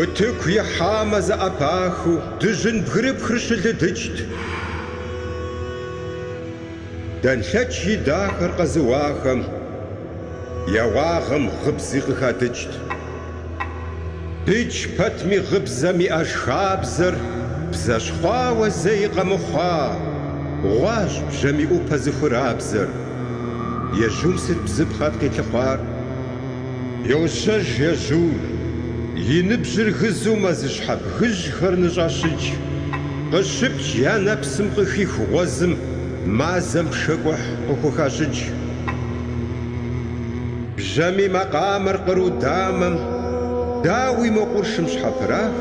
Утыку ихьамэ зэӏэпахыу дыжьын бгырыпхыр щылыдыкӏт. Дэнлъэч и дахэр къэзыуахэм я уагъэм гъыбзи къыхадыкӏт. Дыдж пэтми гъыбзэм иӏэж хабзэр бзэщхъуауэ зэи къэмыхъуа гъущӏ бжьамий ӏупэ зыхурабзэр. Ежьум сыт бзыпхъэт къилъыхъуар? Йощэж ежьур, и ныбжьыр гызу мэзыщхьэ бгыжьхэр ныщӏещыкӏ. Къыщыпкӏ я нэпсым къыхих гъуэзым мазэм пшэкӏухь къыхухащӏыкӏ. Бжьамий макъамэр къру дамэм, дауи мо къуршым щхьэпырах,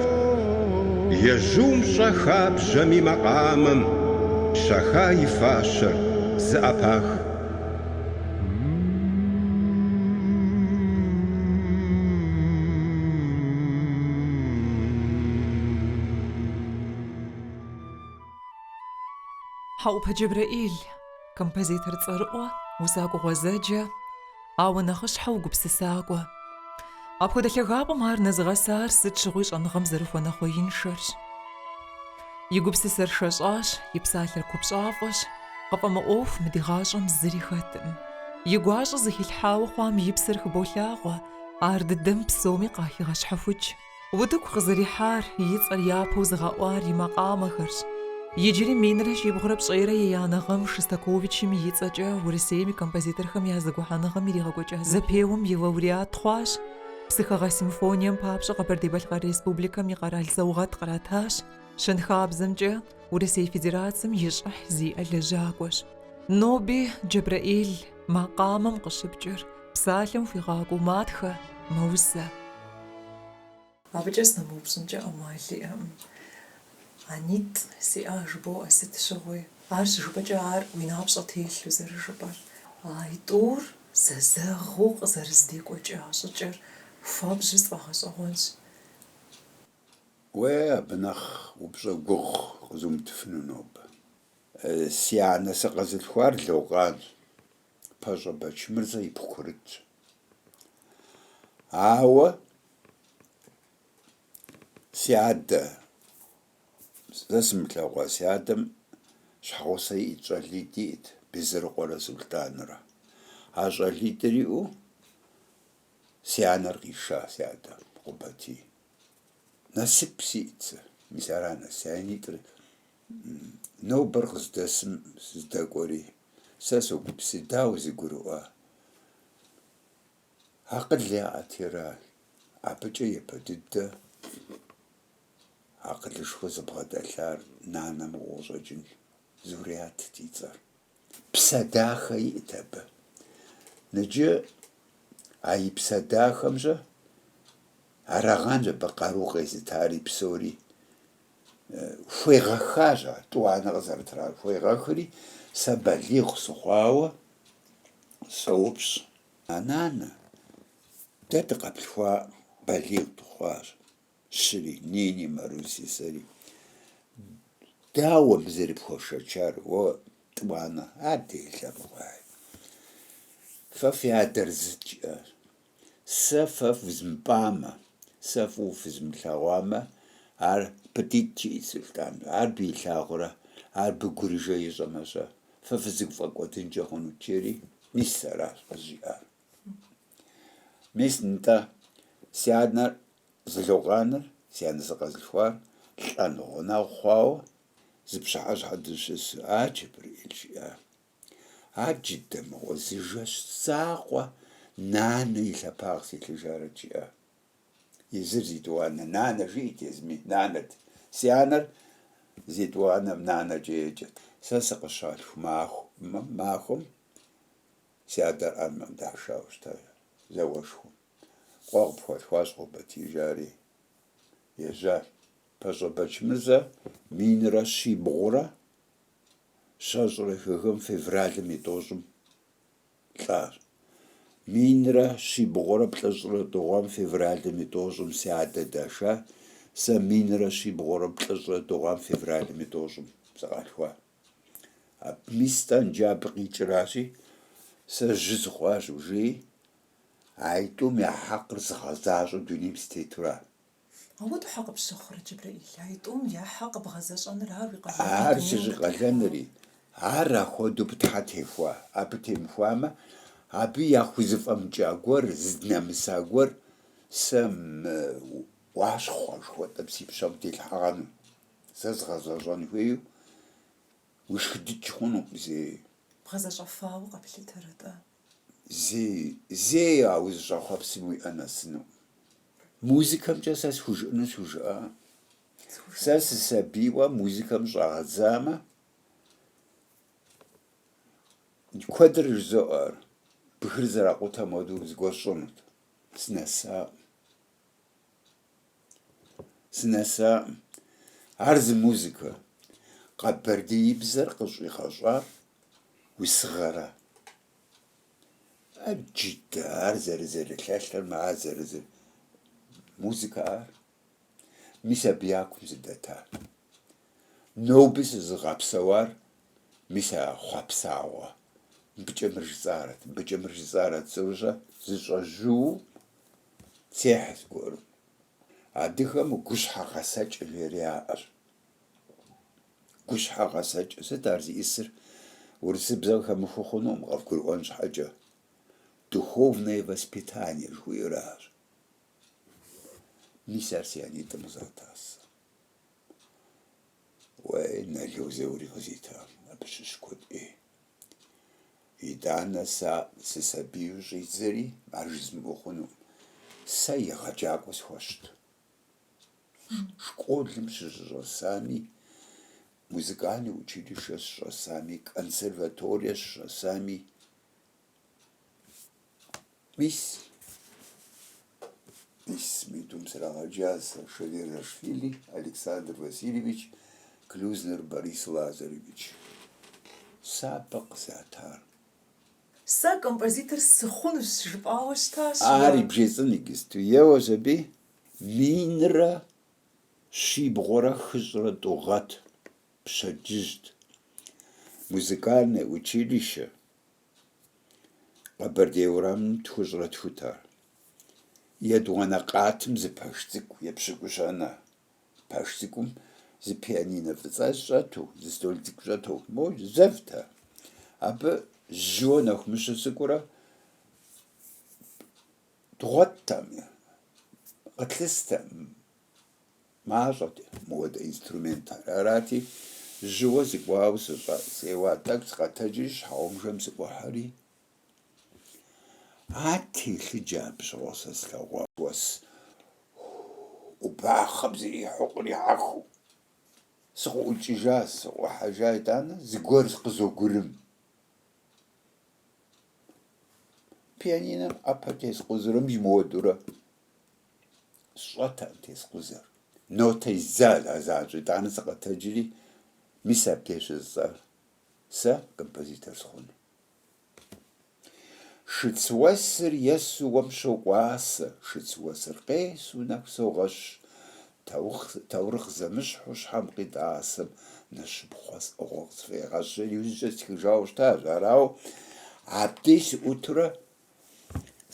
ежьум щӏэха бжьамий макъамэм, щаха и фащэр зэӏэпах. Хьэӏупэ Джэбрэӏил. Композитор цӏэрыӏуэ, усакӏуэ гъуэзэджэ, ауэ нэхъыщхьэу гупсысакӏуэ. Апхуэдэ лъагапӏэм ар нэзыгъэсар сыт щыгъуи щӏэныгъэм зэрыхуэнэхъуеиншэрщ. И гупсысэр шэщӏащ, и псалъэр купщӏафӏэщ, къыфӏэмыӏуэху мы ди гъащӏэм зыри хэткъым. И гуащӏэ зыхилъхьауэ хъуам и псэр хыболъагъуэ, ар дыдэм псоми къахигъэщхьэхукӏ. Утыку къызэрихьар, и цӏэр япэу зыгъэӏуар и макъамэхэрщ. Иджыри минрэ щибгъурэ пщӏейрэ еянэ гъэм Шостаковичым и цӏэкӏэ Урысейм и композиторхэм я зэгухьэныгъэм иригъэкӏуэкӏа зэпеуэм и лауреат хъуащ, Псыхэгъэ симфонием папщӏэ Къэбэрдей-Балъкъэр Республикэм и къэрал саугъэт къратащ, щэнхабзэмкӏэ Урысей Федерацэм и щӏыхь зиӏэ лэжьакӏуэщ. Ноби Джэбрэӏил макъамэм къыщыпкӏыр, Псалъэм хуигъакӏуэу матхэ, мэусэ. Абыкӏэ сынэмыупщӏынкӏэ ӏэмал иӏэкъым. Анитӏ сиӏа жыбоӏэ сыт щыгъуи. Ар щыжыпӏэкӏэ ар уи напщӏэ телъу зэрыжыпӏэр. А тӏур зэзэгъыу къызэрызэдекӏуэкӏа щӏыкӏэр хуабжьу сфӏэгъэщӏэгъуэнщ. Уэ абы нэхъ упщӏэ гугъу къызумытыфыну нобэ. Си анэ сыкъэзылъхуар Локъан. Пащӏэ Бэчмырзэ ипхъу курытщ. Ауэ си адэ, сэ сымылъэгъуа си адэм щхьэгъусэ иӏт, щӏалитӏ иӏт, Безырыкъуэрэ Сулътӏанрэ. А щӏалитӏыр иӏэу си анэр къиша си адэм, Къубатий. Насып сиӏт сэ, мис ар анэ, си анитӏыр нобэр къыздэсым зэдэкӏуэри, Сэ согупсыс, дауэ зэгурыӏуа? Акъыл яӏэт ара, абыкӏэ япэ дыдэ акъылышхуэ зыбгъэдэлъар нанэ мыгъуэу къыщӏэкӏын Зурятт и цӏэр. Псэ дахэ иӏэт абы. Ныджы а и псэ дахэм-щэ арагъэнщ абы къару къезытари псори. Хуегъэхащ ар, тӏуанэ къызэрытрар хуегъэхри, сэ балигъ сыхъуауэ соупщӏ, А нанэ, дэ дыкъэплъхуа балигъ дыхъуащ, щыри, Нини, Маруси, сэри. Дауэ бызэрыпхуэшэчар, уэ, тӏуанэ, ар делэ мыхъуаи. Фэ фи адэр зыт, жиӏащ. Сэ фэ фызмыпӏамэ, сэ фӏыуэ фызмылъэгъуамэ, ар пытитӏ, жиӏи Сулътӏан. Ар абы илъагъурэ, ар абы гурыжэ ищӏэмэ-щэ, фэ фызыгфӏэкӏуэдынкӏэ хъунут, жери, мис аращ къызжиӏар. Мис нтӏэ, си анэр зылогъаныр, си анэ сыкъэзылъхуар лӏэну гъунэгъу хъуауэ зы пщыхьэщхьэ дыщысу, а Джэбрэӏил жиӏа. А джыдэ мыгъуэ зы жэщ закъуэ нанэ и лъэпагъ силъыжарэт жиӏа. Езыр зи тӏуанэ нанэ жиӏэт, езыми нанэт. Си анэр зи тӏуанэм нанэкӏэ еджэт. Сэ сыкъыщалъху махуэм си адэр армэм дашауэ щыта зауэшхуэм. Къуэ къыпхуалъхуащ къобэтижари, ежьащ. Пащӏэ Бэчмырзэ минрэ щибгъурэ щэщӏрэ хы гъэм февралым и тӏощӏым лӏар. Минрэ щибгъурэ плӏыщӏрэ тӏу гъэм февралым и тӏощӏым си адэ даша, сэ минрэ щибгъурэ плӏыщӏрэ тӏу гъэм февралым и тӏощӏым сыкъалъхуа. Абы мис тӏэнджабэ къикӏыращи, сэ жьы сыхъуащ, жи, а итӏум я хьэкъыр зыгъэзащӏэу дунейм сытетура, Ауэ дауэ къыпщыхъурэ, Джэбрэӏил, а итӏум я хьэкъ бгъэзэщӏэныр ар уи къалэн ди Ар дунейм зыщӏикъалэнри, ар ахуэдэу Тхьэ техуа, абы темыхуамэ, абы яхузэфӏэмыкӏа гуэр, здынэмыса гуэр, сэ мы ӏуащхъуэ жыхуэтӏэм си пщэм телъхьэгъэну, зэзгъэзэщӏэн хуейуэ, уишхыдыкӏ хъунукъым зэи. Бгъэзэщӏэфауэ къэплъытэр атӏэ. зэи а узыщӏэхъуэпсым уиӏэ нэсыну. Музыкэмкӏэ сэ схужыӏэну схужыӏакъым. Сэ сысабийуэ музыкэм щӏагъэдзамэ, куэдрэ жызоӏэр бгыр зэракъутэм хуэдэу зыгуэр сщӏэнут, сынэсакъым. Сынэсакъым. Ар зы музыкэ. Къэбэрдеибзэр къыщӏигъэщӏар усыгъэра? Аджыдэ, ар зэрызэрылъэлъырмэ, ар зэрызы музыкэ ар. Мис абы я кум сыдэта. Ноби сызыгъэпсэуар мис а хъуэпсагъуэ. Мыбыкӏэ мыр жысӏарэт, мыбыкӏэ мыр жысӏарэт, цӏэрыщӏэ, зыщӏэжьу техь зыгуэру. Адыгэм гущхьэ гъэсэкӏ жери яӏэщ. Гущхьэ гъэсэкӏ сыт ар зиӏысыр? Урысыбзэм хэмыхыу хъунукъым къэвгурыӏуэн щхьэкӏэ. Духовное воспитание жыхуиӏэр аращ. Мис ар си анитӏым къызата сэ. Уей, Нало Заури къызита, абы щыщ куэд ӏей. Итӏанэ сэ сысабийуэ щӏидзэри ар жызмыӏэу хъунукъым. Сэ егъэджакӏуэ схуэщт. Школым сыщыщӏэсами, музыкальное училищэ сыщӏэсами, консерваторие сыщӏэсами, Мис мис митӏум срагъэджа сэ Шаверзашвили Александр Васильевич, Клюзнер Борис Лазаревич. Сапэ къызатар. Сэ композитор сыхъунущ жысӏауэ щытащ. Ар бжесӏэн иджысту еуэ сабий минрэ щибгъурэ хыщӏрэ тӏу гъэт пщэдджыжьт, музыкальное училище Къэбэрдей урамым тхущӏрэ тхут ар. Етӏуанэ къатым зы пэш цӏыкӏу епщыкӏущанэ. Пэш цӏыкӏум зы пианинэ фӏыцӏэ щӏэту, зы стол цӏыкӏу щӏэту, моуэ зэвт ар. Абы жьыуэ нэху мыщу дыкӏуэрэ дгъуэттэм, къытлъыстэкъым, Мащӏэт мыуэдэ инструментхэр. Арати, жьыуэ сыкӏуауэ сыщӏэс, сеуа тӏэкӏу сыкъэтэджри, щхьэгъубжэм сыӏухьэри, а телъыджэ абы щыгъуэ сэ слъэгъуа. Уэс ӏубахъэм зрихьу кърихьэхыу сыкъыӏукӏыжа, сыӏухьэжа, итӏанэ зыгуэр къызогурым. Пианинэм ӏэпэ тескъузэркъым мыуэдурэ Сщӏэтэкъым тескъузэр. Нотэ изал ар заӏэщӏ. Итӏанэ сыкъэтэджри, мис абдеж щыжысӏар сэ композитор сыхъуну. Шыцуэсыр есу уэм щокӏуасэ, шыцуэсыр къесу нэху согъэщ, таурыхъ зэмыщхьу щхьэм къитӏасэм нэщыпхъуэ сӏыгъыу къысфӏегъэщӏ. Иужькӏэ стхыжауэ щытащ, арауэ абдеж сыӏутурэ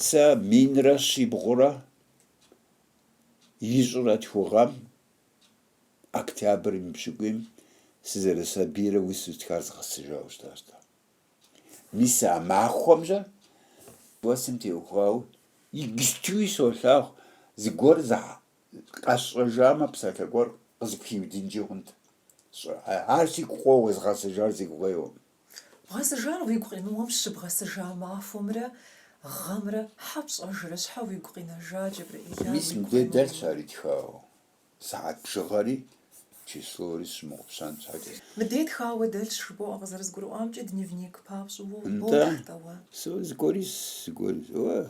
Сэ минрэ щибгъурэ ищӏрэ тху гъэм, октябрым и пщыкӏуийм, сызэрысабийрэ усэу стхар згъэсыжауэ щытащ. Мис а махуэмжьэ классым теухуауэ иджыстуи солъагъу, зыгуэр къэсщӏэжамэ, псалъэ гуэр къызыпхиудынкӏи хъунт. Ар сигу къоуэ, згъэсыжар сигу къеуэм. Бгъэсыжар уигу къеуэм щыбгъэсыжа махуэмрэ гъэмрэ щхьэ пщӏэжрэ щхьэ уигу къинэжа Джэбрэӏил? Мис мыбдей дэлъщ ар итхауэ, сыхьэт бжыгъэри, числори сщымыгъупщэн щхьэкӏэ. Мыбдей тхауэ дэлъщ, жыбоӏэ, къызэрызгурыӏуамкӏэ, дневник папщӏэу уохъу, Нтӏэ, атӏэ уэ? сэ зыгуэри, зыгуэри, уэ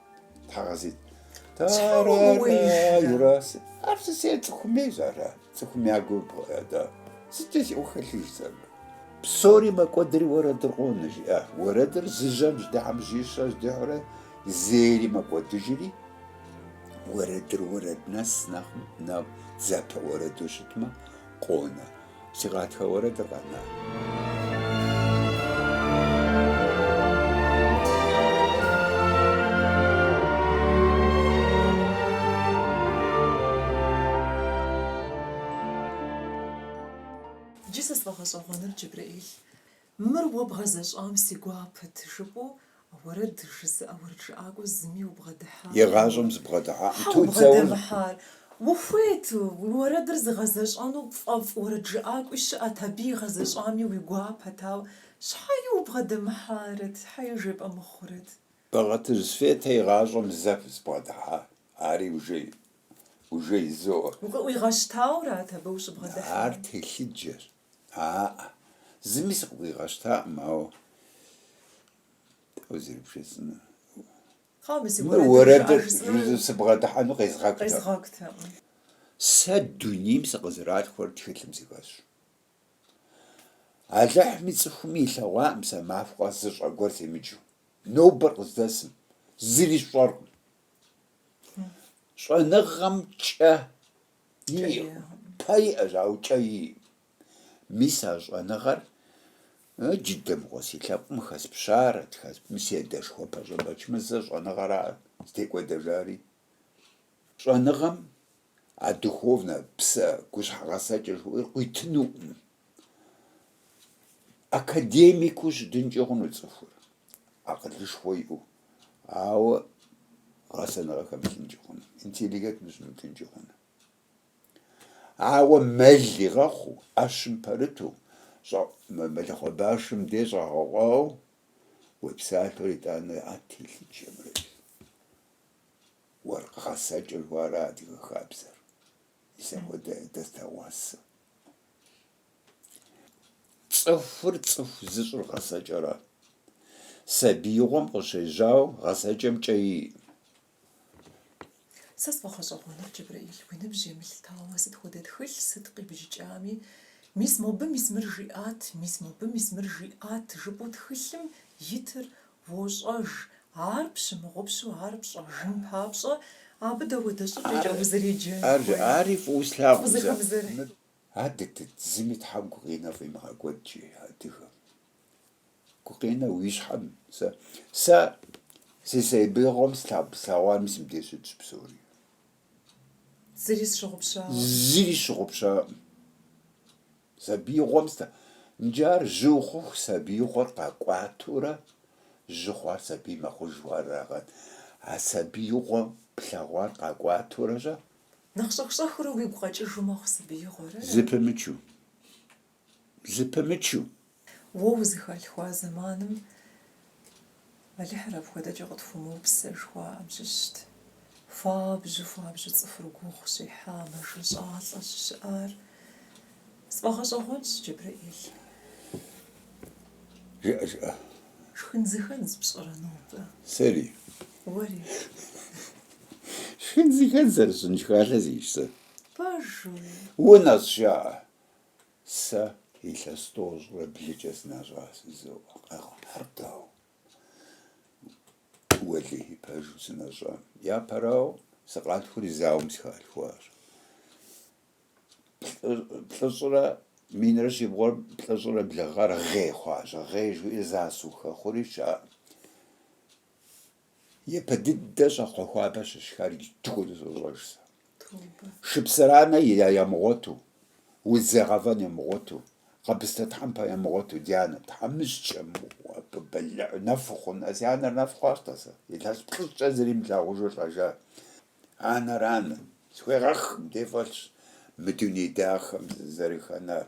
Тхьэгъэзит. Тарарарара. Ар сэ цӏыхуми зара, цӏыхуми агу да. Сыт си ухэлъиж зэр. Псори мэкӏуэдри уэрэдыр къонэ жиӏа. Уэрэдыр зы жьэм ждыхьэм жьищэ ждыхьурэ зэри мэкӏуэдыжри, уэрэдыр уэрэд нэс нэхъ зэпэ уэрэду щытмэ, къонэ. Си гъатхэ уэрэдыр къэна. Иджы сэ сфӏэгъэщӏэгъуэныр, Джэбрэӏил, Мыр уэ бгъэзэщӏам си гуапэт, жыпӏэу уэрэд жызыӏэ уэрэджыӏакӏуэ зыми убгъэдыхьа? Игъащӏэм сыбгъэдыхьакъым ту цӏэуну. Щхьэ убгъэдэмыхьар? Ухуейт, уэрэдыр зыгъэзэщӏэну пфӏэфӏ уэрэджыӏакӏуи щыӏэт, абы игъэзэщӏами уи гуапэт, ауэ щхьэи убгъэдэмыхьарэт, щхьэи жепӏэ мыхъурэт? Бэгъэтыжь Светэ игъащӏэм зэ сыбгъэдыхьа, ари ужей, ужей зоӏэ. Укъыӏуигъэщтаурат абы ущыбгъэдыхьар? Ар телъыджэщ. Аӏэ, зыми сыкъыӏуигъэщтакъым, ауэ дауэ зэрыбжесӏэнур? Хьэу, мы си уэрэдыр жыӏэ жысӏэу сыбгъэдыхьэну къезгъэкӏутэкъым. Сэ дунейм сыкъызэралъхурэ тхылъым сыхэсщ. Алыхьми цӏыхуми илъэгъуакъым сэ махуэ зы щӏэ гуэр семыджу. Нобэр къыздэсым зыри сщӏэркъым. Щӏэныгъэм кӏэ Кӏэ иӏэу. Пэ иӏэщ, ауэ кӏэ иӏэ. Мис а щӏэныгъэр джыдэ мыгъуэ си лъэпкъым хэспщарэт, хэспми си адэшхуэ Пащӏэ Бэчмырзэ щӏэныгъэра зытекӏуэдэжари. Щӏэныгъэм а духовнэ псэ гущхьэгъэсэкӏэ жыхуиӏэр къуитынукъым. академикыу щытынкӏэ хъуну цӏыхур, акъылышхуэ иӏэу, ауэ гъэсэныгъэ хэмылъынкӏэ хъуну, интеллигенту щымытынкӏэ хъуну. Ауэ мэл игъэхъуу, ӏэщым пэрыту, мэлыхъуэ башым де щӏэгъэкъуау уи псалъэхэр итӏанэ ар телъыджэмрэ уэркъ гъэсэкӏэр жыхуаӏэра адыгэ хабзэр, мис апхуэдэ дыдэ слъэгъуа сэ. Цӏыхур цӏыху зыщӏыр гъэсэкӏэрэ? Сабиигъуэм къыщежьау гъэсэкӏэмкӏэ и. Сэ сфӏэгъэщӏэгъуэныр, Джэбрэӏил, уи ныбжь емылъытауэ, сыт хуэдэ тхылъ, сыт къибджыкӏами, Мис мобы, мис мыр жиӏат, мис мобы, мис мыр жиӏат, жыпӏэу тхылъым итыр Уощӏэж, ар пщымыгъупщэу ар пщӏэжын папщӏэ, абы дапхуэдэ щӏыкӏэкӏэ узэреджэн хуейр? Ар жыӏари фӏыуэ слъагъу. Адэ, дэ зыми Тхьэм гукъинэ фӏимыгъэкӏуэдкӏи адыгэм. Гукъинэ уи щхьэм, сэ, сэ си сабиигъуэм слъагъуами сымыдещӏыкӏ псори. Зыри сщыгъупщауэ. Зыри сщыгъупщаӏым. Сабиигъуэм сэ. Иджы ар жьы ухъуху сабиигъуэр къакӏуатурэ жьы хъуар сабий мэхъужу арагъэн. А сабиигъуэм плъэгъуар къакӏуатурэ жьа? Нэхъ щӏэх-щӏэхыурэ уигу къэкӏыжу мэхъу сабиигъуэр? Зыпымычу. Зыпымычу. Уэ узыхалъхуа зэманым Алыхьыр апхуэдэкӏэ къытхуэмыупсэ жыхуаӏэм щыщт. Хуабжьу, хуабжьу цӏыхур гугъу щехьа, мэжэщӏалӏэ щыщыӏар сфӏэгъэщӏэгъуэнщ, Джэбрэӏил. Жыӏэ, жыӏэ. Шхын зыхэдз пщӏэрэ нобэ? Сэри. Уэри. Шхын зыхэдз зэрысщӏын шхалъэ сиӏэщ сэ. Пэжу. Унэщӏ жаӏэ. Сэ илъэс тӏощӏрэ блыкӏэ сынэщӏа жызоӏэ, къэхъуартау Уэлэхьи пэжу сынэщӏам. Япэрауэ, сыкъалъхури зауэм сыхалъхуащ. Плӏыщӏрэ минрэ щибгъурэ плӏыщӏрэ блы гъэр гъей хъуащ. Гъей жиӏэри зауэ сыхухэхъури щыӏэкъым. Япэ дыдэ щӏакхъуэ хуабэ щысшхар иджы хуэду сощӏэж сэ. Шыпсыранэ ямыгъуэту, удз ягъэвэн ямыгъуэту, къэбыстэ тхьэмпэ ямыгъуэту, ди анэ тхьэмыщкӏэ мыгъуэм, абы бэлыӏ нэфу хъун. А си анэр нэф хъуащ-тӏэ сэ, илъэс плӏыщӏкӏэ зыри имылъагъужу лӏэжа анэрами, схуегъэхым дей фӏэлъщ мы дуней дахэм сызэрыхэнар.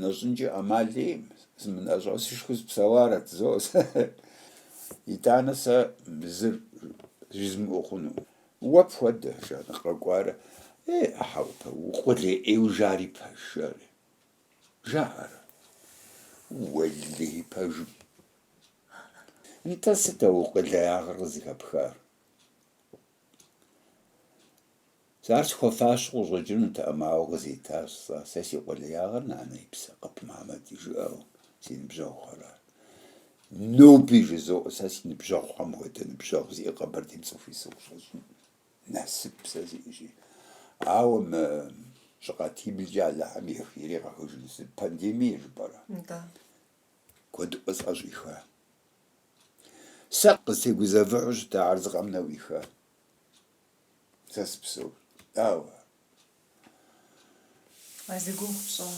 Нэщӏынкӏэ ӏэмал иӏым, сымынэщӏу сышхэу сыпсэуарэт, зо сэ. Итӏанэ сэ мы зыр жызмыӏэу хъуну. Уэ пхуэдэ, жан, къэкӏуарэ. Е, хьэупэ, укъулей ӏейуэ жари пэж, жаӏэрэ. Жаӏэрэ. Уэлэхьи пэжым. Нтӏэ сыт а уи къулеягъыр къызыхэпхар? Сэ ар схуэфащэу къыщӏэкӏынутэӏым, ауэ къызитащ сэ, сэ си къулеягъыр нанэ и псэ къэп Мамэти жыӏэу, си ныбжьэгъухэра. Ноби жызоӏэ сэ си ныбжьэгъухэм хуэдэ ныбжьэгъу зиӏэ Къэбэрдейм цӏыху и сыхущӏэщӏын насып сэ сиӏэщи. Ауэ мы щӏы къатиблкӏэ Алыхьым и ехи иригъэхыжыну сыт, пандемие жыпӏэрэ? Да. Куэдыӏуэ сӏэщӏиха. Сэ къыстегузэвыхьу щытар зы къэмынэу ихьа. Сэ сыпсэущ, ауэ... А зи гугъу пщӏа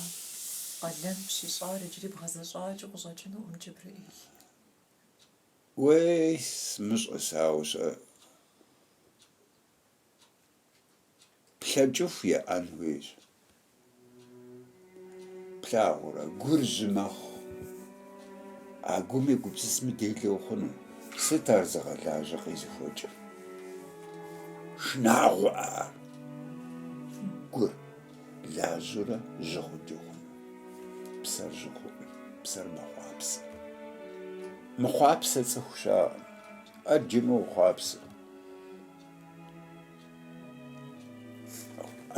къалэн пщищӏар иджыри бгъэзэщӏакӏэу къыщӏэкӏынукъым, Джэбрэӏил. Уей, сымыщӏэ сэ, ауэ сэ плъэкӏыху уеӏэн хуейщ. Плъагъурэ, гур жьы мэхъу. А гум уегупсысмэ, делэ ухъуну. Сыт ар зыгъэлажьэ къезыхуэкӏыр? Шынагъуэ ар. Гур лажьурэ жьы хъуджэ хъуну? Псэр жьы хъуӏым, псэр мэхъуапсэ. Мыхъуапсэ цӏыху щаӏым. Ӏэджэм уохъуапсэ.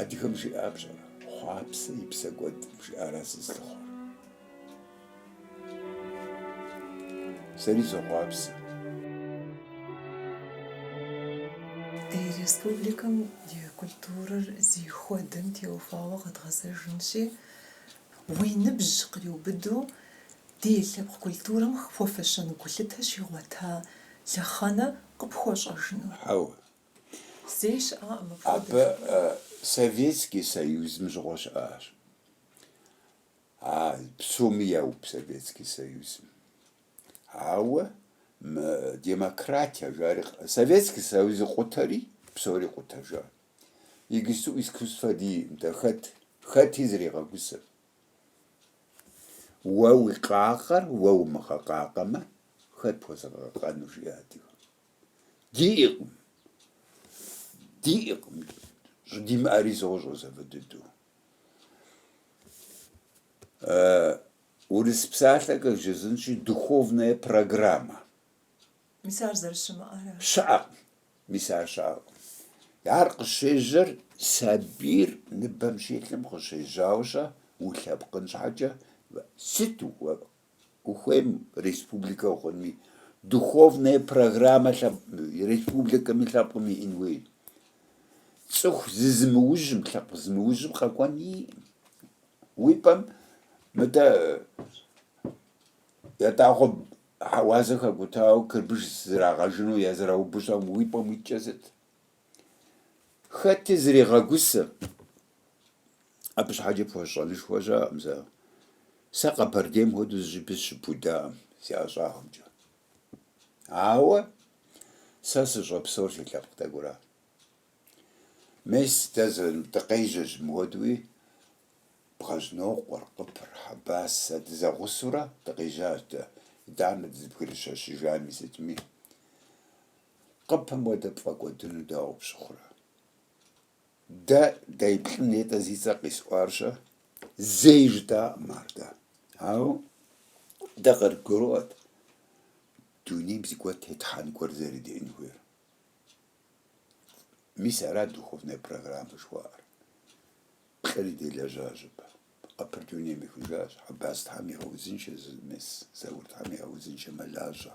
Адыгэм жиӏар пщӏэрэ, хъуапсэ и псэ кӏуэд жиӏара зызлыхъуэр? Сэри сохъуапсэ. Ди республикэм и культурэр зыхуэдэм теухуауэ къэдгъэзэжынщи, уи ныбжь къриубыдэу ди лъэпкъ культурэм хуэфэщэн гулъытэ щигъуэта лъэхъэнэ къыпхуэщӏэжыну. Хьэуэ, Абы Советский Союзым щыгъуэ щыӏащ. А псоми яуб Советский Союзым. Ауэ мы демократия жари Советский Союзыр къутэри, псори къутэжа. Иджыпсту искусствэ диӏым, нтӏэ хэт? Хэти зригъэгусэм. Уэ уи къакъэр уэ умыгъэкъакъэмэ, хэт пхуэзыгъэкъэкъэну, жиӏэ адыгэм. Диӏэкъым, диӏэкъым щӏыдимыӏэри сощӏэ сэ фӏы дыдэу. Урыс псалъэкӏэ жысӏэнщи, духовнэ программэ. Мис ар зэрыщымыӏэрэ? Щыӏэкъым, мис ар щыӏэкъым. Ар къыщежьэр сабийр ныбэм щилъым къыщежьауэ щэ, улъэпкъын щхьэкӏэ, сыту Ухуейм республикэ ухъунми, духовнэ программэ лъэпкъми, республикэми лъэпкъым иӏэн хуейт. Цӏыху зызымыужьым, лъэпкъ зымыужьым къэкӏуэн иӏым. Уи пӏэм мыдэ ятӏагъуэ хьэуазэ хэкӏутауэ чырбыш зэрагъэжыну язраубыщӏам уи пӏэм уиткӏэ сыт? Хэти зригъэгусэ. Абы щхьэкӏэ пхуэщӏэнышхуэ щыӏэкъым сэ. Сэ Къэбэрдейм хуэдэу зыщӏыпӏи сыщыпудаӏым си ӏэщӏагъэмкӏэ. Ауэ сэ сыщӏэпсэур си лъэпкъ тӏэкӏура. Мес дэ дыкъежьэщ мыхуэдуи, Бгъэжьнокъуэр, Къыпыр, Хьэбас, сэ дызэгъусэурэ дыкъежьащ дэ, итӏанэ дызэбгрыщэщыжами сытми. Къыпым хуэдэ пфӏэкӏуэдыну дауэ пщыхъурэ? Дэ ди плӏым нетӏэ зи цӏэ къисӏуар щэ? Зэи жытӏакъым ар дэ. Ауэ дэ къыдгуроӏуэт дунейм зыгуэр тетхьэн гуэр зэрыдиӏэн хуейр. Мис ара духовнэ программэ жыхуаӏэр. Плӏыри делэжьащ абы. Къыпыр дунейм ехыжащ, Хьэбас Тхьэм игъэузыншэ зы мес, Заур Тхьэм игъэузыншэ мэлажьэ.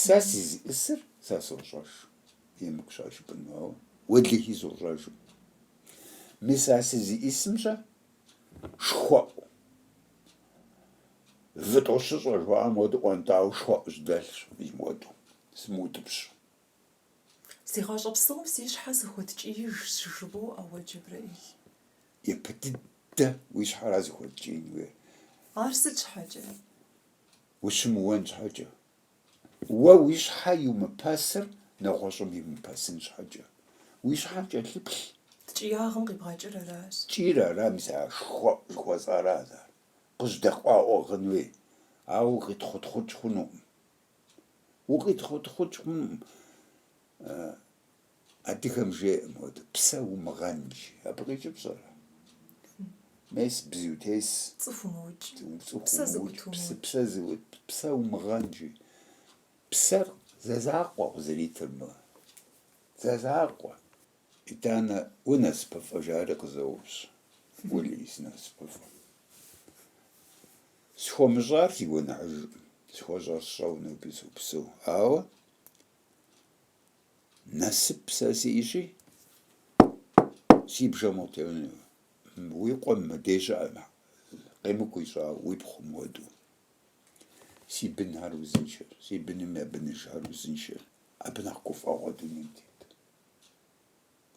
Сэ сызиӏысыр сэ сощӏэж, емыкӏущ ар жыпӏэну, ауэ уэлэхьи сощӏэжым. Мис а сызиӏысымкӏэ шхуэӏу, вытӏу щыщӏэ жыхуаӏэм хуэдэу ӏуэнтӏауэ шхуэӏу сжьэдэлъщ мыхуэдэу, сымыутӏыпщ. Си гъащӏэ псом си щхьэ сыхуэткӏиижщ жыбоӏэ уэ, Джэбрэӏил. Ипэ дыдэ уи щхьэра узыхуэткӏиин хуейр? Ар сыт щхьэкӏэ? ущымыуэн щхьэкӏэ, уэ уи щхьэ иумыпэсыр нэгъуэщӏым иумыпэсын щхьэкӏэ, уи щхьэ кӏэлъыплъ. Ткӏиягъым къибгъэкӏыр аращ. Ткӏийр ара мис а шхуэӏу жыхуэсӏара сэ. Ар къыжьэдэкъуауэ ӏыгъын хуей, ауэ укъитхъутхъукӏ хъунукъым. Укъитхъутхъукӏ хъунукъым. Адыгэм жеӏэ моды, псэ умыгъэн, жи. Абы къикӏыр пщӏэрэ? Мес бзу тес. Цӏыху умыукӏ. Цӏыху Псэ зыӏут умыукӏ, псы- умыукӏ. псэ зыӏут, псэ умыгъэн, жи. Псэр зэ закъуэ къызэритыр мы. Зэ закъуэ. Итӏанэ унасыпыфӏэ жари къызоупщӏ, Ули, сынасыпыфӏэ. Схуэмыщӏар си гуэныхьыжкъым, схуэщӏэр сщӏэу ноби сопсэу, ауэ. Насып сэ сиӏэщи, си бжэм утеуэну. Уи къуэм мыбдеж щыӏэм къемыкӏу ищӏа уи пхъум хуэдэу. Си бынхэр узыншэ, си быным я быныжхэр узыншэ. Абы нэхъ гуфӏэгъуэ дунейм тет.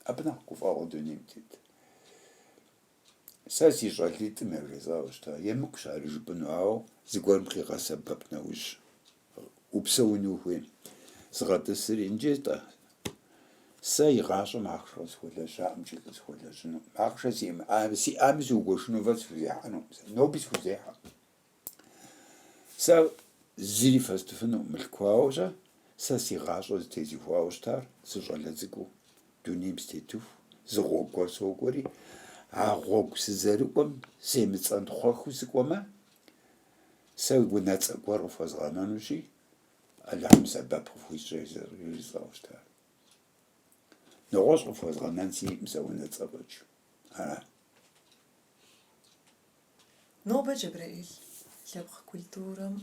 Абы нэхъ гуфӏэгъуэ дунейм тет. Сэ си щӏалитӏым яжесӏауэ щыта, емыкӏущ ар жыпӏэну, ауэ зыгуэрым къигъэсэбэп нэужь упсэуну ухуейм. Згъэтӏысри, иджы-тӏэ, сэ и гъащӏэм ахъшэ къысхуэлэжьаӏым икӏи къысхуэлэжьыну, ахъшэ сиӏэми сиӏами сыугуэшыну фӏэкӏ схузехьэнукъым сэ, ноби схузехьэ. Сэ зыри фэстыфынукъым мылъку, ауэ щэ, сэ си гъащӏэр зытезухуауэ щытар сыщӏалэ цӏыкӏуу, дунейм сытетыху, зы гъуэгу гуэр сокӏуэри, а гъуэгу сызэрыкӏуэм семыцӏэнтхъуэхыу сыкӏуэмэ, сэ унэцӏэ гуэр къыфхуэзгъэнэнущи, Алыхьым сэбэп къыфхуищӏ яжесӏауэ щытар. Нэгъуэщӏ къыфхуэзгъэнэн сиӏэкъым сэ унэцӏэ фӏэкӏ. Ара? Нобэ Джэбрэӏил лъэпкъ культурэм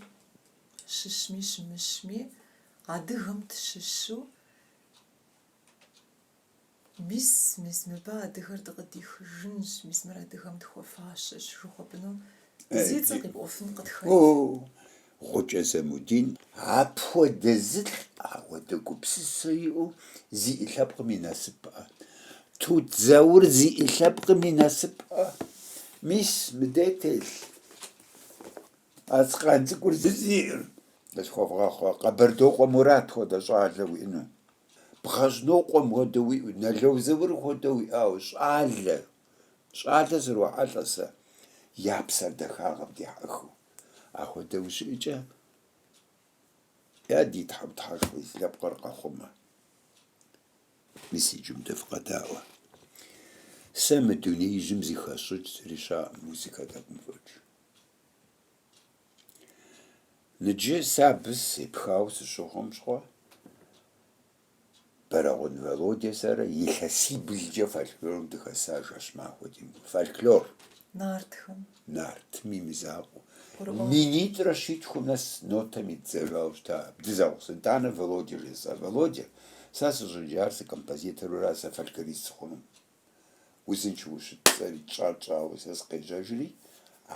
щыщми щымыщми, адыгэм тщыщу, мис, мис мыбы адыгэр дыкъыдихыжынщ, мис мыр адыгэм тхуэфащэщ жыхуэпӏыну зи цӏэ къипӏуэфын къытхэт. Гъукӏэ Замудин. Апхуэдэ зы лӏы, апхуэдэ гупсысэ иӏэу зиӏэ лъэпкъым и насыпӏэ. Тут Заур зиӏэ лъэпкъым и насыпӏэ. Мис, мыдэ телъ. Къацкъан цӏыкӏур зызиӏэр. Къысхуэвгъэгъу Къэбардокъуэ Мурат хуэдэ щӏалэ уиӏэну. Бгъэжьнокъуэм хуэдэ уиӏэу, Нало Заур хуэдэ уиӏауэ, щӏалэ. Щӏалэ срохьэлӏэ сэ, я псэр дахагъэм дехьэхыу. Апхуэдэу щыӏэкӏэ, я ди Тхьэу Тхьэшхуэ, си лъэпкъыр къэхъумэ. Мис иджы мыдэ фыкъэдаӏуэ. Сэ мы дунеижьым зыхэсщӏыкӏ зыри щыӏэӏым, музыкэ тӏэкӏум фӏэкӏ. Ныджы сэ абы сепхауэ сыщыхъум щыгъуэ, Бэрэгъун Володя сэрэ илъэсиблкӏэ фольклорым дыхэса жэщ махуэ димыӏэу. Фольклор. Нартхэм. Нартым и мызакъуэу. Гурыӏуа. Минитӏрэ щитхум нэс нотэм иддзэжауэ щыта дызэгъусэу. Итӏанэ Володя жесӏа. Володя, сэ сыщӏыджар сыкомпозитору ара сэ фольклорист сыхъунум? Узыншэу ущыт, сэри тщӏар тщӏауэ сэ сыкъежьэжри,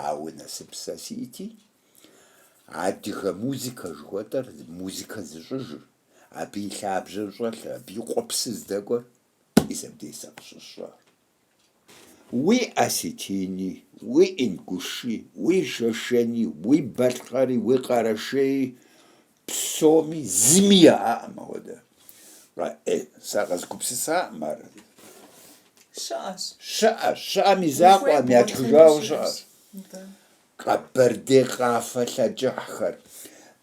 ауэ насып сэ сиӏэти, адыгэ музыкэ жыхуэтӏэр, музыкэ зыщӏыжыр, Абы и лъабжьэр щӏэлъэ, абы и къуэпсыр здэкӏуэр мис абдей сэ къыщысщӏар. Уи осетини, уи ингуши, уи шэшэни, уи балъкъэри, уи къэрэшеи, псоми зыми яӏэкъым апхуэдэ. Къэӏей, сэ къэзгупсысакъым ар. Щыӏэщ. Щыӏэщ, щыӏэм и закъуэкъым, ятхыжауэ щыӏэщ. Къэбэрдей къафэ лъэкӏыхьхэр,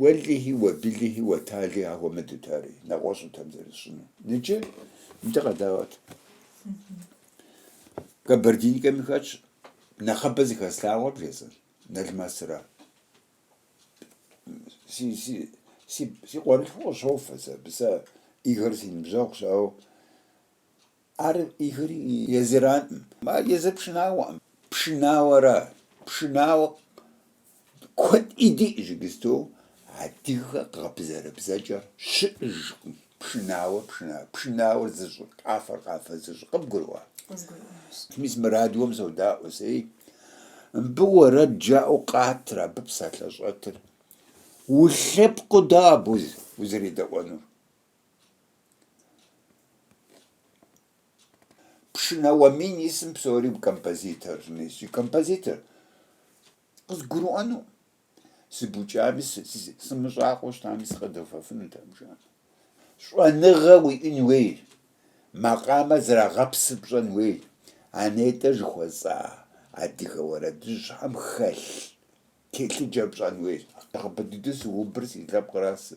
Уэлэхьи, уэбилэхьи, уэталэхьи ахуэмыдут ари, нэгъуэщӏут ар зэрысщӏынур. Ныджы мыдэ къэдаӏуэт. Кабардинкэми хэтщ, нэхъыбэ зыхэслъагъуэр бжесӏэн, Налмэсыра. Си, си, си, си къуэрылъхур къыщофэ сэ абы, сэ Игорь си ныбжьэгъущ, ауэ Ар Игорь езыраӏым, а езыр пшынауэӏым. Пшынауэрэ пшынауэ куэд диӏ иджыпсту адыгэ гъэбзэрабзэкӏэр щыӏыжкъым. Пшынауэ пшына, пшынауэр зыщӏыр, къафэр къафэ зыщӏыр къыбгурыӏуа? Къызгурыӏуащ. Мис мы радиом содаӏуэ сэи, мыбы уэрэд жаӏэу къатыр абы псалъэ щӏэтыр. Улъэпкъыу дауэ абы узэредэӏуэнур? Пшынауэ мин исым псори композиторщ, мис си композитор. Къызгурыӏуэну? Сыбукӏами, сымыщӏакъуэу щытами, сыкъыдэфэфынутэӏым жаӏэм. Щӏэныгъэ уиӏын хуей, макъамэр зэрагъэпсыр пщӏэн хуей, а нетӏэ жыхуэсӏа адыгэ уэрэдыжьхэм хэлъ телъыджэр пщӏэн хуей. Сыубы дыдэу сыубыр си лъэпкъыращ сэ.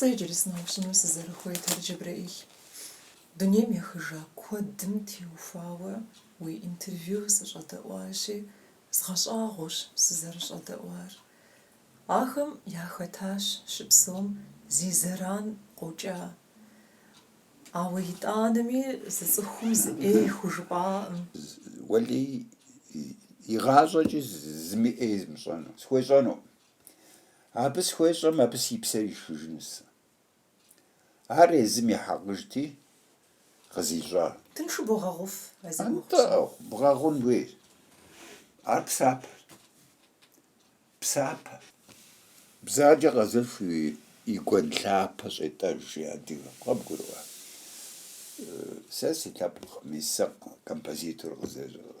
Сэ иджыри сыноупщӏыну сызэрыхуейр, Джэбрэӏил, дунейм ехыжа куэдым теухуауэ уи интервью сыщӏэдэӏуащи, згъэщӏэгъуащ сызэрыщӏэдэӏуар. Ахэм яхэтащ щыпсэум зи зэран къокӏа. Ауэ итӏанэми зы цӏыхум зы ӏей хужыпӏакъым. Уэлей, игъащӏэкӏи зыми ӏей езмыщӏэну схуещӏэнукъым. Абы схуещӏэм, абы си псэр ишхыжыну сэ. Ар езым и хьэкъыжти, къызищӏа. Тыншу богъэгъуф а зи гугъу псом. Атӏэ, бгъэгъун хуейщ. Ар псапэщ. Псапэ. Бзаджэ къэзыш и гуэн лъапэ щӏетӏэж, жи адыгэм. Къэбгурыӏуа? Сэ си лъэпкъми сэ композитор къызэжьэкъым.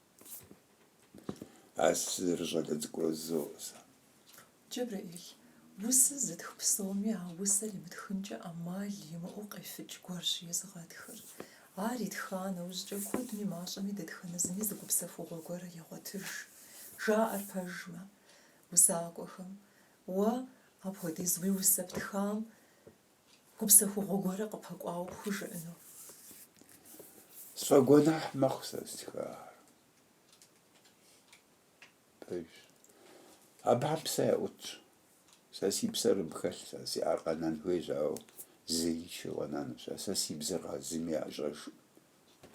А сызэрыщӏалэ цӏыкӏур зоӏэ сэ. Джэбрэӏил, усэ зытх псоми а усэр имытхынкӏэ ӏэмал имыӏэу къефыкӏ гуэрщ езыгъэтхыр. Ар итха нэужькӏэ куэдми мащӏэми дэтхэнэ зыми зы гупсэхугъуэ гуэрэр егъуэтыж. Жаӏэр пэжмэ, усакӏуэхэм, Уэ апхуэдиз уи усэ птхам Гупсэхугъуэ гуэрэ къыпэкӏуауэ пхужыӏэну. Сфӏэгуэныхь мэхъу сэ стхахэр. Пэж. Абыхэм псэ яӏутщ. Сэ си псэр абы хэлъщ, псэ зиӏэр къэнэн хуейщ, ауэ зеиншэу къэнэнущ. А сэ си бзэр зыми ящӏэжкъым.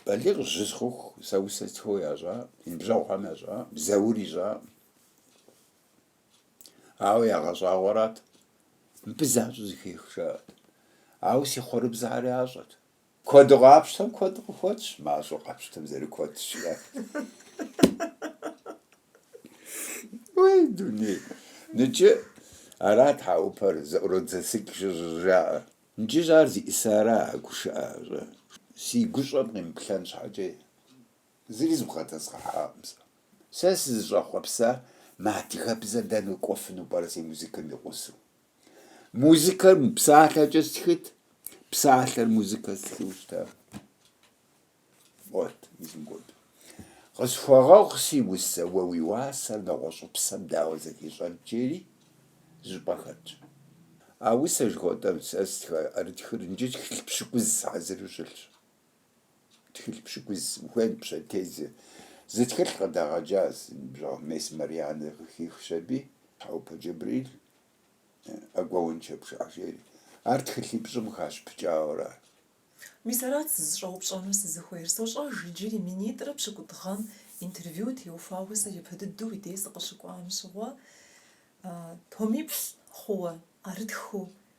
Балигъыжь сыхъуху сэ усэ стхыуэ ящӏакъым, си ныбжьэгъухэм ящӏакъым, Заур ищӏакъым. Ауэ ягъэщӏагъуэрат, мыбы защӏэ зэхех, жаӏэрт. Ауэ си хъурыбзэхэр ящӏэт. Куэду къапщтэм куэд къыхуэтщ, мащӏэу къапщтэм зэрыкуэд щыӏэт. Уей, дуней! Ныкӏэ арат а ӏупэр зэӏуродзэсыкӏ жыжьэжаӏэр. Ныкӏыщӏ ар зиӏысара а гушыӏэ, жаӏэрт. Си гущӏэм къимыплъэн щхьэкӏэ. Зыри зыбгъэдэзгъэхьакъым сэ. Сэ сызыщӏэхъуэпсар мы адыгэбзэр дэнэ кӏуэфыну пӏэрэ си музыкэм и гъусэу? Музыкэр псалъэкӏэ стхыт, псалъэр музыкэ стхыу щыта? Уот, мызыгуэду. Къысхуэгъэгъу си усэ уэ уи уасэр нэгъуэщӏыпсэм дауэ зэхищӏэн, жери зы щӏыпӏэ хэтщ. А усэр жыхуэтӏэм сэ стха ӏэрытхыр иджы тхылъ пщыкӏуз хьэзыру щылъщ. Тхылъ пщыкӏуз ухуейм пщэдей зы зы тхылъ къыдагъэкӏащ, си ныбжьэгъу мес Марианнэ къыхихщ аби, Тхьэупэ Джэбрэӏил ӏэгуэунчэ пшажери. Ар тхылъипщӏым хащыпыкӏауэра? Мис арат сызыщӏэупщӏэну сызыхуейр. Сощӏэж иджыри, минитӏрэ пщыкӏутӏ гъэм интервью теухуауэ сэ ипэ дыдэу уи дей сыкъыщыкӏуам щыгъуэ, томиплӏ хъууэ, ӏэрытхыу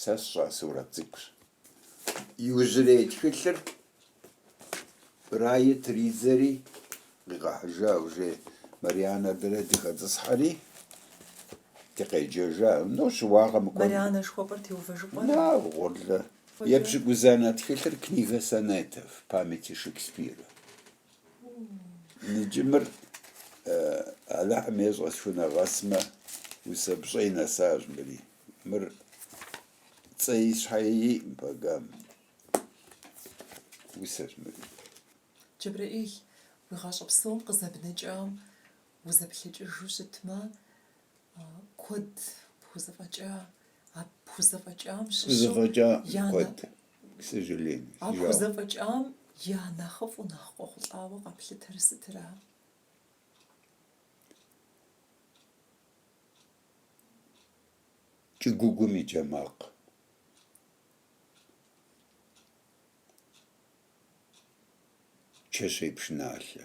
Сэ сщӏа сурэт цӏыкӏущ. Иужьрей тхылъыр Рае тридзэри къигъэхьыжа ужей Марианэ дэрэ дыхэтӏысхьэри, дыкъеджэжа. Нощ уагъэ мыкӏуэну. Марианэ жыхуэпӏэр Теувэжыкъуэра? Нагъ, гъурлэ. Епщыкӏузанэ тхылъыр книга сонетов, памяти Шекспира. Ныджымыр Алыхьым ещӏэ схунэгъэсмэ, усэ пщӏэи нэсащ мыри. Мыр цӏэи щхьэи иӏым пэгам. Усэщ мыри. Джэбрэӏил, уи гъащӏэ псом къызэбнэкӏам узэплъэкӏыжу щытмэ, куэд пхузэфӏэкӏа, а пхузэфӏэкӏам щыщу Пхузэфӏэкӏа я нэ- куэд. к сожалению. А пхузэфӏэкӏам я нэхъыфӏу нэхъ къохъулӏауэ къэплъытэр сытра? Кӏыгуугум и джэ макъ. Чэщей пшыналъэ.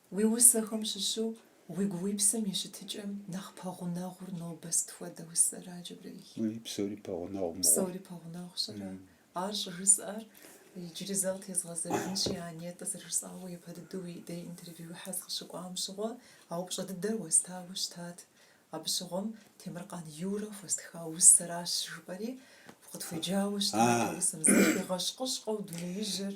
Уи усэхэм щыщу уигу-уипсэм и щытыкӏэм нэхъ пэгъунэгъур нобэ сыт хуэдэ усэр, а, Джэбрэӏил? Уэй псори пэгъунэгъу мыгъуэм. Псори пэгъунэгъущ, ара? Ар щӏыжысӏэр иджыри зэ къытезгъэзэжынщи, а Нетӏэ зэрыжысӏауэ япэ дыдэу уи дей интервьюхьэ сыкъыщыкӏуам щыгъуэ, а упщӏэ дыдэр уэстауэ щытат. Абы щыгъуэм Темыркъан Юрэ хуэстха усэращ, жыпӏэри, укъытхуеджауэ щытат а усэм, зэхигъэщ-къыщкъэу дунеижьыр.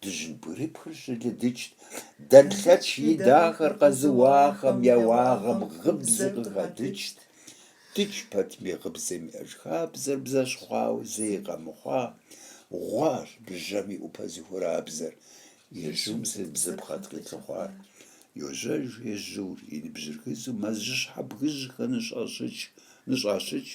Дыжьын бгырыпхыр щылыдыкӏт, дэнлъэч и дахэр къэзыуахэм я уагъэм гъыбзэ къыхадыкӏт. Дыдж пэтми гъыбзэм я жыхабзэр бзэщхъуауэ зэи къэмыхъуа, гъуащ бжьэм и ӏупэ зыхурабзэр, ежьум си бзэ бгъэт къилъыхъуар. Йожьэж ежьур, и ныбжьыр гызу мэзжьыщхьэ бгыжьхэр ныщӏащыкӏ,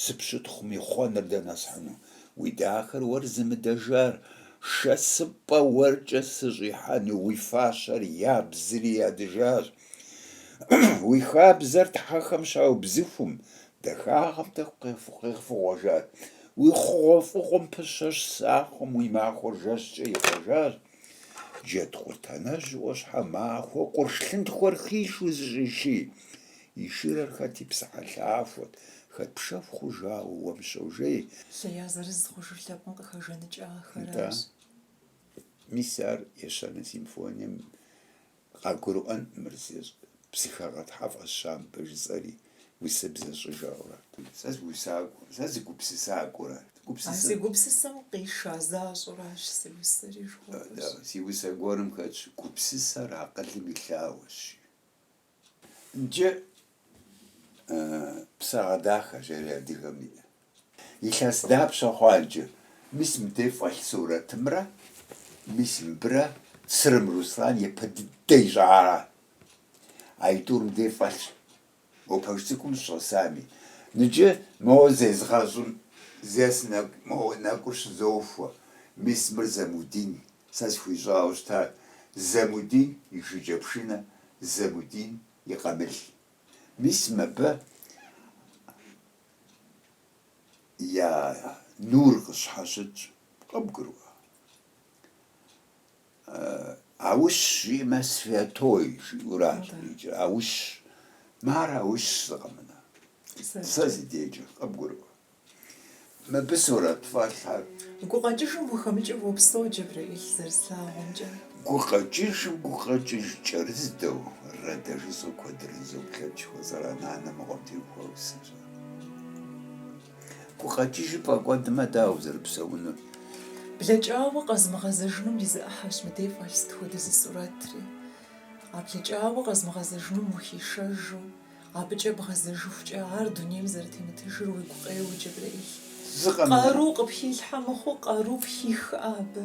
Сыпщытхъум и хъуэныр дэнэ схьыну? Уи дахэр уэр зымыдэжар, шэсыпӏэ уэркӏэ сыщӏихьэну уи фащэр ябзри ядыжащ. Уи хабзэр тхьэхэм щаубзыхум, дахагъэм тӏэкӏу къефыгъуэжащ. Уи хъугъуэфӏыгъуэм пыщэщ сахъуэм уи махуэр жэщкӏэ ихъуэжащ. Джэдкъурт анэжь Ӏуащхьэмахуэ къурш лъынтхуэр хишу зыщӏиши, и шырэр хэт и псыхьэлъахуэт, хэт пшэху хъужауэ уэм щожей. Сэ я зырыз хъужыр лъэпкъым къыхэжэныкӏа ахэращ. Мис ар ещанэ симфонием Къагурыӏуэн мыр зи псыхэгъэ тхьэфӏэщ щампӏэ жысӏэри, усэ бзэ щӏыжэгъурэ. Сэ сыусакӏуэ, сэ сыгупсысакӏуэрэ. А си гупсысэм къиша защӏэращ си усэри жыхуэпӏэщ. Си усэ гуэрым хэтщ гупсысэр акъылым и лъагъуэщ. Иджы псалъэ дахэщ ари адыгэм и Илъэс дапщэ хъуа иджы? Мис мыдей фӏэлъ сурэтымрэ мис мыбырэ Црым Руслан япэ дыдэ ищӏара? Аитӏур мыдей фӏэлъщ, уэ пэш цӏыкӏум щӏэсами. Ныджы моуэ зезгъэщӏым зес моуэ нэкӏур щызохуэ, мис мыр Замудин, сэ схуищӏауэ щытар Замудин и шыкӏэпшынэ, Замудин и къамыл. Мис мыбы. я нур къыщхьэщытщ, къыбгурыӏуа? Аущ жиӏэмэ, святой жиӏэуращ иджы, аущ, мы ар аущ зы къэмынэ, сэ си дежкӏэ, къыбгурыӏуа? Мыбы сурэт фӏэлъхэр. Гукъэкӏыжым ухэмыкӏыу уопсэу, Джэбрэӏил, зэрыслъагъумкӏэ. Гукъэкӏыжым гукъэкӏыж кӏэрыздэу, Рэдэ жысӏэу куэдрэ зызоплъэкӏ, хуэзэра нанэ мыгъуэм теухуауэ сыщӏэ. Гукъэкӏыжыр пфӏэкӏуэдмэ, дауэ узэрыпсэунур? Блэкӏауэ къэзмыгъэзэжыным и зы ӏыхьэщ мыдей фӏэлъ сыт хуэдэ зы сурэтри. А блэкӏауэ къэзмыгъэзэжыным ухишэжу, абыкӏэ бгъэзэжыхукӏэ ар дунейм зэрытемытыжыр уигу къеуэ, Джэбрэӏил. Зы къэмынэ. Къару къыпхилъхьэ мыхъуу къару пхихкъэ абы.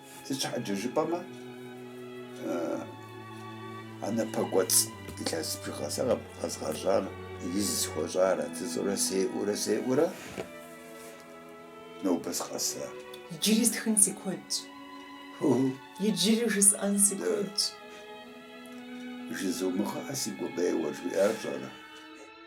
Сыт щхьэкӏэ жыпӏэмэ, а напэкӏуэцӏ илъэс бжыгъэ сэ къэзгъэщӏар из схуэщӏарэт жысӏэурэ сеӏэурэ сеӏэурэ нобэ сыкъэса. Иджыри стхын си куэдщ. Иджыри жысӏэн си куэдщ. Жызумыгъэӏэ си гукъеуэр жиӏар пщӏэрэ?